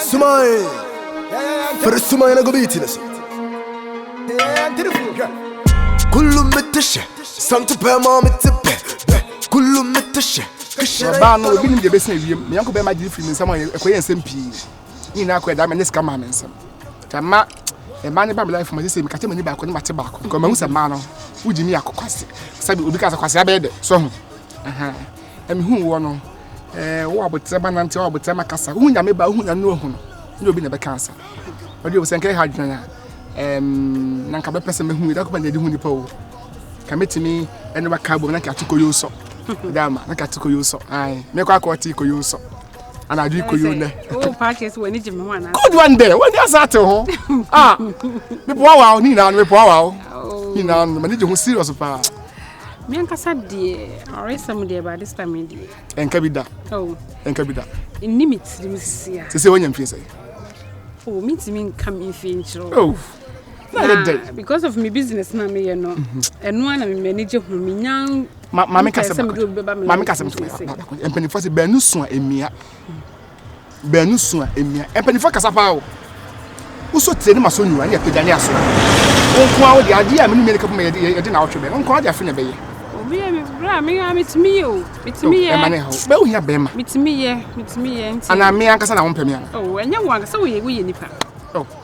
sumae firi sumae na gobi ti ne so kulu mete hyɛ santo pɛ ma mete pɛ pɛ kulu mete hyɛ baa no obi nim deɛ bɛsɛ awiem me yɛnko bɛma gyere firi me nsɛm a ɛkɔyɛ nsɛm pii ne nyinaa kɔ ɛdaa mɛnyɛ sika maa me nsɛm nti ma ɛma ne ba me life ma sɛ sɛ mekate m'ani baako ne mate baako kɔ mahu sɛ maa no wogye me akɔ kwase sɛbi obi ka sɛ kwase abɛyɛ dɛ sɛ ho ɛmehu woɔ no ɛɛ wo abotire ma nante wo abotire ma kasa wohu nyame ba wohu nyame ohu no ne obi na ɛbɛka asa ɔde wo sɛ nka ɛha adwene a ɛɛm na nka bɛpɛ sɛ mehu ɛda kɔba na ɛde hu nipa o ka metumi ɛne waka abom na nka ate koyo sɔ ɛda ama na nka ate koyo sɔ ae mekɔ akɔ ɔte koyo sɔ ana adwe koyo nɛ good one dɛ wɔde asa ate ho ah mepoa wa wo ne nyinaa no mepoa wa wo nyinaa no mane gye ho serious paa Me ankasa deɛ ɔresɛm deɛ ba this time yi deɛ. Ɛnka bi da. Oh. Ɛnka bi da. Nni me tirim sisi a. Sisi wɔnya mfie sɛ. Oh, me ntumi nka me mfie nkyerɛ. Oh. Na yɛ dɛ. Because of me business na me yɛ no. Ɛno ara na me m'ani gye ho. Me nya. Maame kasɛm. Maame kasɛm. Mpanimfoɔ sɛ bɛn no so a emia. baanu sua mmea. Mpanyinfoɔ kasa paa o. Wosɔ tire ne ma sɔ nyura ne apagya ne aso. Wo nko ara wode adeɛ a me ne mmea ne kapɔ ma yɛde yɛde na awɔtwe bɛn. Wo nko ara de afe na ɛbɛyɛ. Obi yɛ me bra me a metumi yɛ o. Metumi yɛ. Ɛma ne ha o. Bɛyɛ ohia bɛrima. Metumi yɛ. Metumi yɛ nti. Anaa me ankasa na wɔn pɛ me ana. Oh ɛnyɛ wɔn ankasa woyɛ woyɛ nipa. Oh.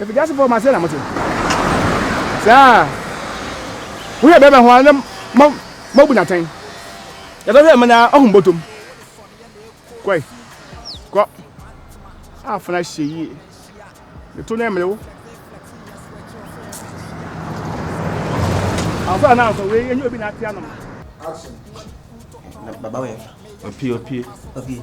Efidiasefo ma sɛn na mote? Saa a wohwɛ bɛrima ho ara na moabu no atɛn. Yɛtɔ hwɛ ma na ɔhom bɔtɔm. Kɔe, kɔ. Afena hyɛ yie. Ne to no mmere wo. Afo a na nso wei enye obi na ate anom. Action. Baba wɛ. Opie opie. Opie.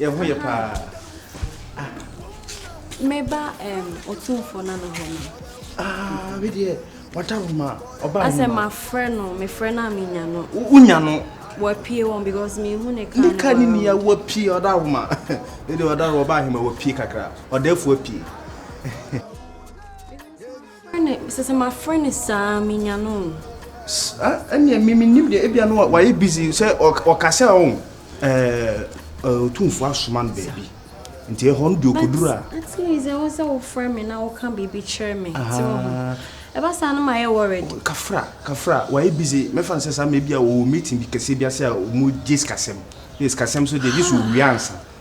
Yɛn ho yɛ paa. Ah. Meba um, Otumfo na no hɔ no. Ah, me deɛ, wada wo ma, ɔba Asɛ mafrɛ no, mefrɛ no a menya no. Wonya no. Wapie wɔn because mehu ne ka no. Ne ka ne nia wapie, ɔda wo ma. Me deɛ ɔda wo, ɔba ahema wapie kakra. Ɔda afu apie. Frɛ no, sɛ sɛ mafrɛ no saa a, menya no o. Sir, ɛneɛ me mennim deɛ, ebia no wayɛ busy, sɛ ɔka sɛ ɔn ɛɛ Otumfoɔ asoma no baabi, nti ɛhɔ no deɛ ɔkɔduru a. But at least ɛwɔ sɛ wofrɛ me na woka biribi kyerɛ me, te wo ho? Ɛba saa no mayɛ worried. Kafra, Kafra, wayɛ busy, mɛfa no sɛ saa ma ebia ɔwɔ meeting bi kɛseɛ bi ase a wɔgye sikasɛm, na sikasɛm nso deɛ gye sɛ ɔwie ansa.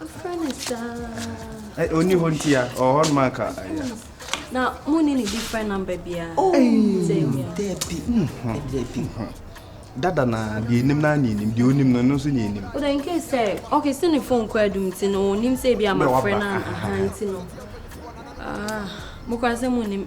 Afrɛ no saa. Ɔnni hɔ nti a, ɔwɔ hɔ noma anka ayɛ. Na mo ne ne different number biara. Oh, Debbie. Mm-hmm. Debbie. Mm-hmm dada na deɛ enim na ne enim deɛ onim no nso ne enim. o de nke sɛ ɔkè sɛ ne fon kɔ adum ti no onim sɛ ebi ama frɛ na ahan ti no aa mo kora sɛ mo nim.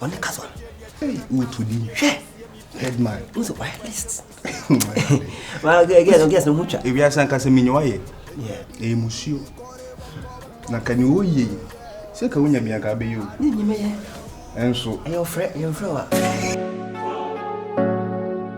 ɔne kasa wotu di hwɛ headman wo sɛ wayɛ list gɛs no ho twa ewiase anka sɛ menye wayɛ ɛyɛ musuo na ka ne ɔyie sɛ ka wonya bia ka bɛyɛ o ne nyimɛyɛ ɛnso ɛyɛ ɔfrɛ ɛyɛ mfrɛ wa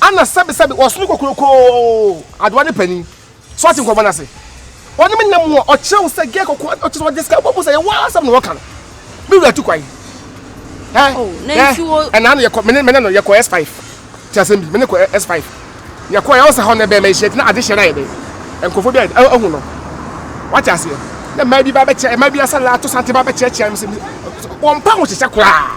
Ana sɛbesɛbe ɔsono kokuroko adowa no panyin? So ɔte nkɔmmɔ no ase? Ɔne me nna mu a ɔkyerɛ wo sɛ gɛɛ kɔkɔɔ a ɔkyerɛ sɛ ɔde sika bɔ mu sɛ yɛ waa asɛm na wɔka no? Me wura tu kwan. Ɛ oh, ɛ ɛnaa no yɛkɔ mene mene no yɛkɔ S5 te asɛm bi mene kɔ S5 yɛkɔ yɛ ɔsɛ hɔ no bɛn ma yɛhyia ti na ade hyɛ no ayɛ dɛn nkurɔfoɔ bi a ahu no wate aseɛ na mmaa bi ba bɛkyɛ mmaa bi asɛ laato sante ba bɛkyɛkyɛ wɔmpa ho hyehyɛ koraa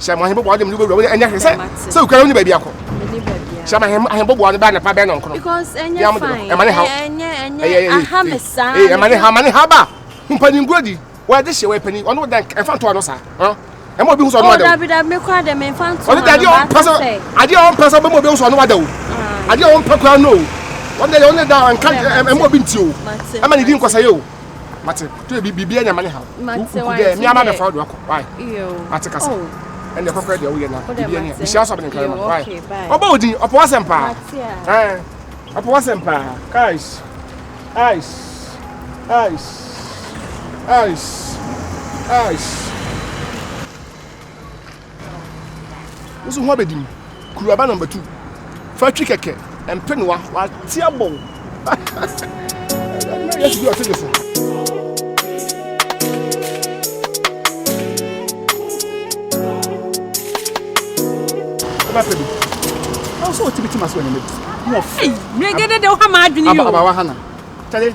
hyɛ mo ahembobo ɔde mede wobɛwura ɛnyɛ hwɛ sɛ sɛ wokura wone baabi akɔ hyɛ ma ahembobo ɔde bɛ anapa bɛ nɔnkoro ɛma ne haw ɛma ne haw ma ne haw ba mpani nguo di wɔde hyɛ wɔyɛ pani ɔno dɛn ɛmfa ntoa no saa ɛma obi hu sɛ ɔno wada o ɔno dɛ adeɛ ɔmpɛ sɛ adeɛ ɔmpɛ sɛ ɔbɛma obi hu sɛ ɔno wada o adeɛ ɔmpɛ koraa no o ɔno dɛ ɔno dɛ nka ɛma obi nti o ɛma ne di nkɔsɛyɛ o mate to ebi bibi anya mane ha wo de mi ama be fa do akɔ why mate kasa ɛne oh. kɔkɔ de wo ye na oh, bibi anya bishia so be ne kama why obo odin opo asem pa eh opo asem pa guys ice ice ice ice Woso ho abedim. Kuru aba number two. Fa twi kɛkɛ. Mpenoa. Wate abɔw. Yes, you are taking so. Aba pedi. Aso otibiti maso enyemedi. Mo fi. Megede de ho ma adwene yo. Aba aba wa hana. Tade.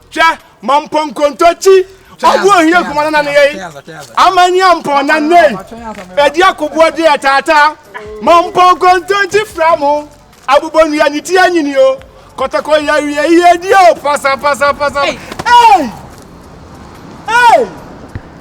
Hwɛ, mampɔ nkontoakyi, ɔho ohia kuma no nane yɛi, amani ampɔn na nnei, ɛdi akoboɔ deɛ ɛtaataa. Mampɔ nkontoakyi fra mo, abobɔ nnua ne ti anyini o, kɔtɔkɔ yɛ awie yɛ die o, pasa pasa pasa. Ei! Ei!